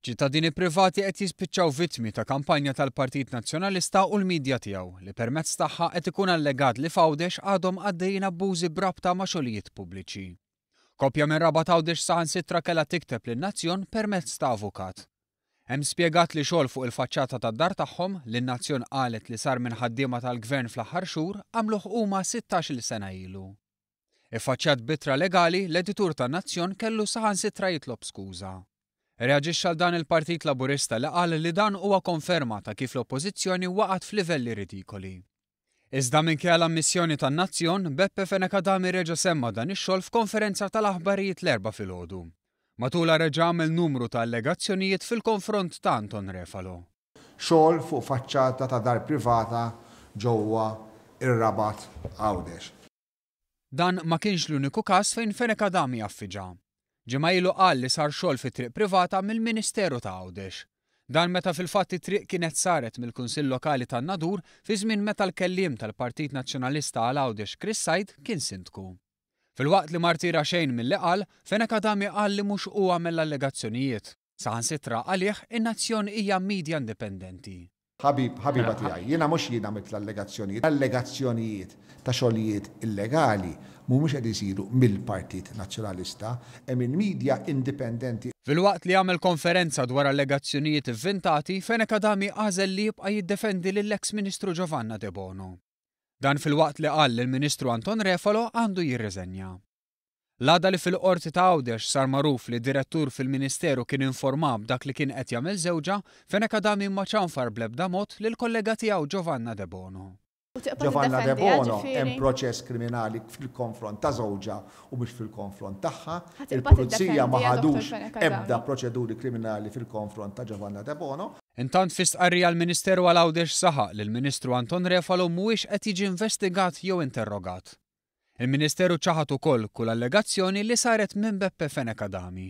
Ċittadini privati qed jispiċċaw vittmi ta' kampanja tal-Partit Nazzjonalista u l-midja tiegħu li permezz tagħha qed ikun allegat li f'Għawdex għadhom għaddejjin abbużi b'rabta ma' xogħlijiet pubbliċi. Koppja minn Rabat Għawdex saħansitra kellha tikteb lin-Nazzjon permezz ta' avukat. Hemm spjegat li xogħol fuq il-faċċata tad-dar tagħhom, li n-Nazzjon qalet li sar minn ħaddiema tal-Gvern fl-aħħar xhur, għamluh huma sittax-il sena ilu. Iffaċċjat b'ittra legali, l-editur tan-Nazzjon kellu saħansitra jitlob skuża. Reaġixxa l-dan il-Partit Laburista li qal li dan huwa konferma ta' kif l-Oppożizzjoni waqgħet f'livelli ridikoli. Iżda minkejja l-ammissjoni tan-Nazzjon, Beppe Fenech Adami reġa' semma' dan ix-xogħol f'konferenza tal-aħbarijiet l-Erbgħa filgħodu. Matulha reġa' għamel numru ta' allegazzjonijiet fil-konfront ta' Anton Refalo. Xogħol fuq faċċata ta' dar privata ġewwa r-Rabat Għawdex. Dan ma kienx l-uniku każ fejn Fenech Adami affiġa. Ġimgħa ilu qal li sar xogħol fit-triq privata mill-Ministeru ta' Għawdex. Dan meta fil-fatt it-triq kienet saret mill-Kunsill Lokali tan-Nadur fi żmien meta l-kelliem tal-Partit Nazzjonalista għal Għawdex Chris Said kien Sindku. Filwaqt li ma rtira xejn milli qal, Fenech Adami qal li mhux hu għamel l-allegazzjonijiet. Saħansitra għalih, in-Nazzjon hija media indipendenti. Ħabib, ħabiba tiegħi, jiena mhux jien għamilt l-allegazzjonijiet. L-allegazzjonijiet ta' xogħlijiet illegali mhumiex qed isiru mill-Partit Nazzjonalista. Hemm il-media indipendenti. Filwaqt li għamel konferenza dwar allegazzjonijiet ivvintati, Fenech Adami għażel li jibqa' jiddefendi lill-eks Ministru Giovanna Debono. Dan filwaqt li qal li l-Ministru Anton Refalo għandu jirriżenja. L-għada li fil-Qorti ta' Għawdex sar magħruf li direttur fil-Ministeru kien informa b'dak li kien qed jagħmel żewġha, Fenech Adami ma ċanfar bl-ebda mod lill-kollega tiegħu Giovanna Debono. Giovanna Debono hemm proċess kriminali fil-konfront ta' żewġha u mhux fil-konfront tagħha. Il-Pulizija ma ħadux ebda proċeduri kriminali fil-konfront ta' Giovanna Debono. Intant fi stqarrija l-Ministeru għal Għawdex saħaq li l-Ministru Anton Refalo mhuwiex qed jiġi investigat jew interrogat. Il-Ministeru ċaħad ukoll kull allegazzjoni li saret minn Beppe Fenech Adami.